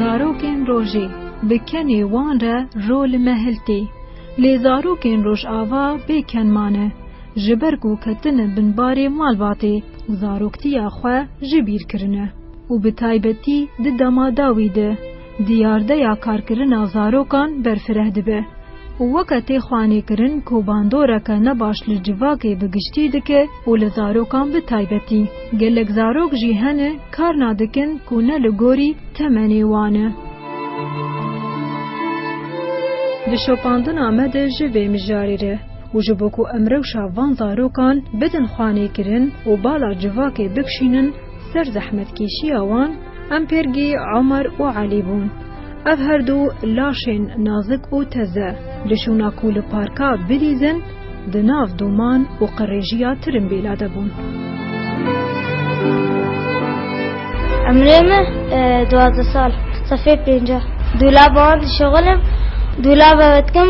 Zarokên rojê bi kenê wan re ro li me hiltê. Lê zarokên rojava bê ken mane. Ji ber ku ketine bin barê malbatê û zaroktiya xwe ji bîr kirine û bi taybetî di dema dawî de diyardeya karkirina zarokan berfireh dibe û weke tê xwanêkirin ku bandoreke ne baş li civakê bi giştî dike û li zarokan bi taybetî. Gelek zarok jî hene kar nadikin ku ne li gorî temenê wan e. Di şopandina me de ji vê mijarê re û ji bo ku em rewşa van zarokan bidin xwanêkirin û bala civakê bikşînin ser zehmetkêşiya wan, em pêrgî Omer û Elî bûn. Ev her du laşên nazik û teze li şûna ku li parka bilîzin di nav dûman û qirêjiya tirimbêla de bûn. Emrê me duwazdeh sal sefê pênceh. Dûlaba wan dişexilim, dûlaba me dikim.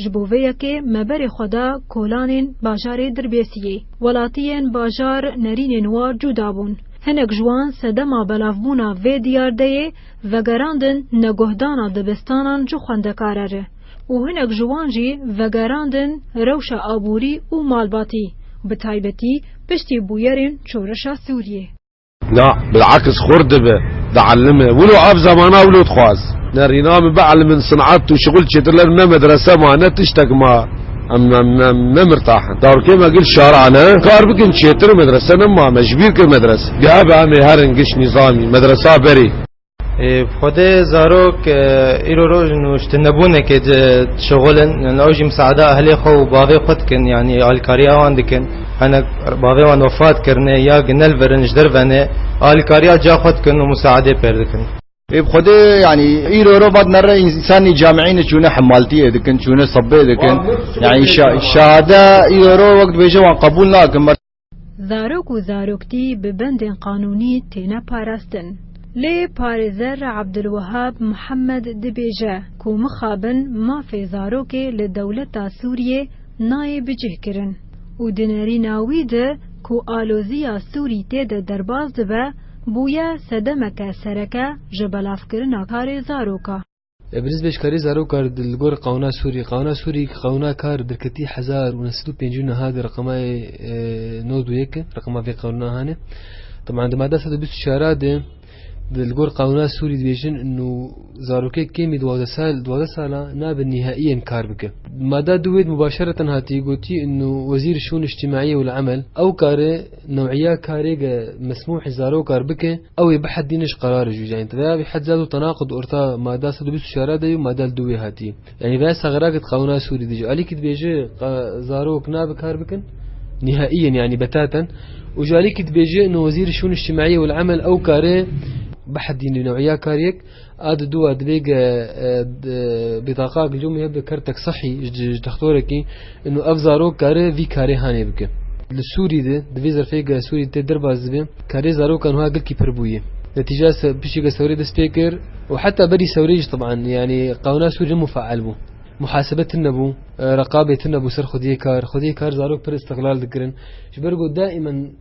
Ji bo vê yekê me berê xwe da kolanên bajarê Dirbêsiyê. Welatiyên bajar nerînên wa cuda bûn. Hinek ji wan sedema belavbûna vê diyardeyê vegerandin neguhdana dibistanan ji xwendekare re û hinek ji wan jî vegerandin rewşa aborî û malbatî, bi taybetî piştî bûyerên şorişa Sûriyê. Na, bil'aks xurt dibe, di'elime. Wilo ev zemana wilo dixwaz. Ne rîna min bi'elimin sin'et û şixul çêtir ler ne medrese ma, ne tiştek ma. Em ne mirtah in. Darokê me gil şari'a ne kar bikin çêtir û medrese ne ma. Me ji bîr kir medrese. Geh be em ê herin giş nîzamî, medresa berî. Xwedê zarok îro roj û ji nebûnekê dişexul in, yani ew jî miseada ehlê xwe û bavê xwe dikin, yanî alîkariya wan dikin. Hinek bavê wan wefat kirine ya ginel vir in ji dervenê, alîkariya ca xwe dikin û miseadê pêr dikin. Xwedê yanî îro roj vat me re însanî camîîne çûne hemaltiyê dikin, çûne sebê dikin. Yanî şahade îro roj wek dibêje wan qebûl nakin. Zarok û zaroktî bi bendên qanûnî têne parastin. Lê parêzer Abdulwehab Muhammed dibêje ku mixabin mafê zarokê li dewleta Sûriyê nayê bicihkirin û di nerîna wî de ku aloziya Sûrî tê de derbas dibe, bûye sedemeke sereke ji belavkirina karê zaroka. Birîzbêjkarî zaroka li gor qanûna Sûrî, qanûna Sûrî qanûna kar derketî hezar û neh sed û pêncî û niha di reqemayê nod û yek e reqema vê qanûna hane. Teman di mada sed û bîst û çar a de di li gor qanûna Sûrî dibêjin nû zarokê kêmî duwazdeh sal duwazdeh sala nabe nîhaîyen kar bike. Di mada du wê de mubaşereten hatiye gotî nû Wezîr Şûn Îctîmaîyê ûl Emel ew karê newîya karêge mesmûhê zarokar bike, Ew ê bihedîne ji qerarê jû. Yanî teveya vê hedzat û tenaqud orta mada sed û bîst û çar a de yo mada li dû wê hatî. Yanî veya sexirakê di qanûna Sûrî de jî alîkî dibêje ka zarok nabe kar bikin nîhaî yên yanî betaten û jî alîkî dibêje no wezîrê şûnê îçtîmaî wal emel ew karê bihedîne newîya kariyek A di dûa dibêge bîtaqa gilûmê hebe bi kertek sihî ji dextorekî in û ev zarok kare vî karê hanê bike. Li Sûrî de di vê zerfê ge Sûrî tê derbas dibe karê zarokan wiha gilkî pir bûye. Netîca piştî ke sewrê dest pê kir û heta berî sewrê jî teban yanî qewna Sûrî hemû feal bû. Muhasebe tune bû, reqabê tune bû ser xwediyê kar. Xwediyê kar zarok pir îstiqlal dikirin. Ji ber ku daîmen.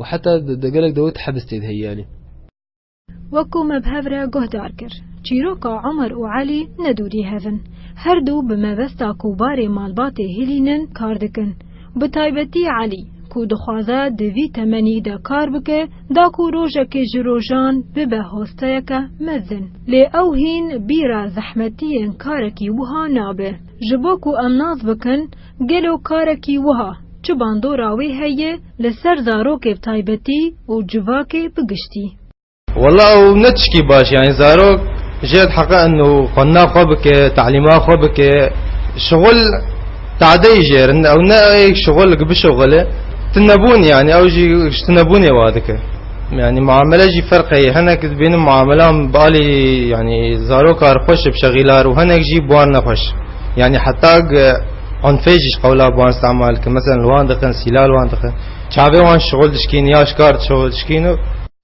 û heta di gelek dawî di hebis tê de heye yanî. Wekû me bi hev re guhdar kir, çîroka Omer û Elî ne dûrî hev in. Her du bi mebesta ku barê malbatê hilînin kar dikin. Bi taybetî Elî, ku dixwaze di vî temenî de kar bike, da ku rojekê ji rojan bibe hosteyeke mezin. Lê ew hîn bîra zehmetiyên karekî wiha nabe. Ji bo ku em nas bikin, Gelo karekî wiha çi bandora wê heye li ser zarokê bi taybetî û civakê bi giştî? Wela ew ne tişkî baş e. Yanî zarok jê re heqe in û xwendina xwe bike, telîma xwe bike. Şixul tade yî jê re ne. Ew ne ê şixul ki bişixule. Tunebûn yanî ew jî ji tunebûnê wa dike. Yanî muamele jî ferq heye. Hinek dibînim muamelan bi alî yanî zaroka re xweş e bi şexîla re û hinek jî bi wan ne xweş. Yanî heta unfê jî ji qewla bi wan îstemal dikin. Meselan li wan dixin, sîla li wan dixin. Çavê wan ji şixul dişkîn ya ji kar şixul dişkîn û.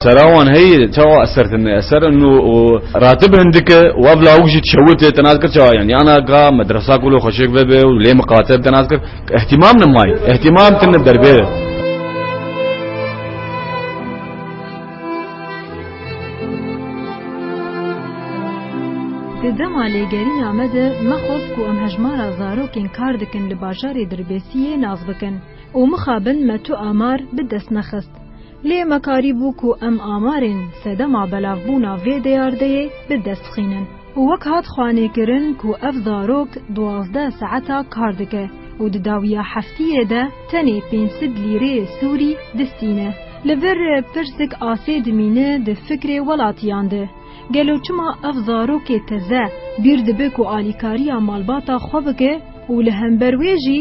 Sera wan heyî çawa eser tine. Eser in û ratib hin dike û ev lawik jî dişewite. Te nas kir çawa yanî ana ka medresa ku li xweşik ve be û lê miqate be te nas kir îhtîmam nemaye. Îhtîmam tine derbê de. Di dema lêgerîna me de mexwest ku em hejmara zarokên kar dikin li bajarê Dirbêsiyê nas bikin û mixabin me tu amar bi dest nexist. Lê me karîbû ku em amarên sedema belavbûna vê dêyardeyê bi dest xînin. û wek hat xwanêkirin ku ev zarok duwazdeh saeta kar dike û di dawiya heftiyê de tenê pênc sed lîreyê sûrî distîne. Li vir pirsik asê dimîne di fikrê welatiyan de, gelo çima ev zarokê teze bîr dibe ku alîkariya malbata xwe bike û li hember wê jî,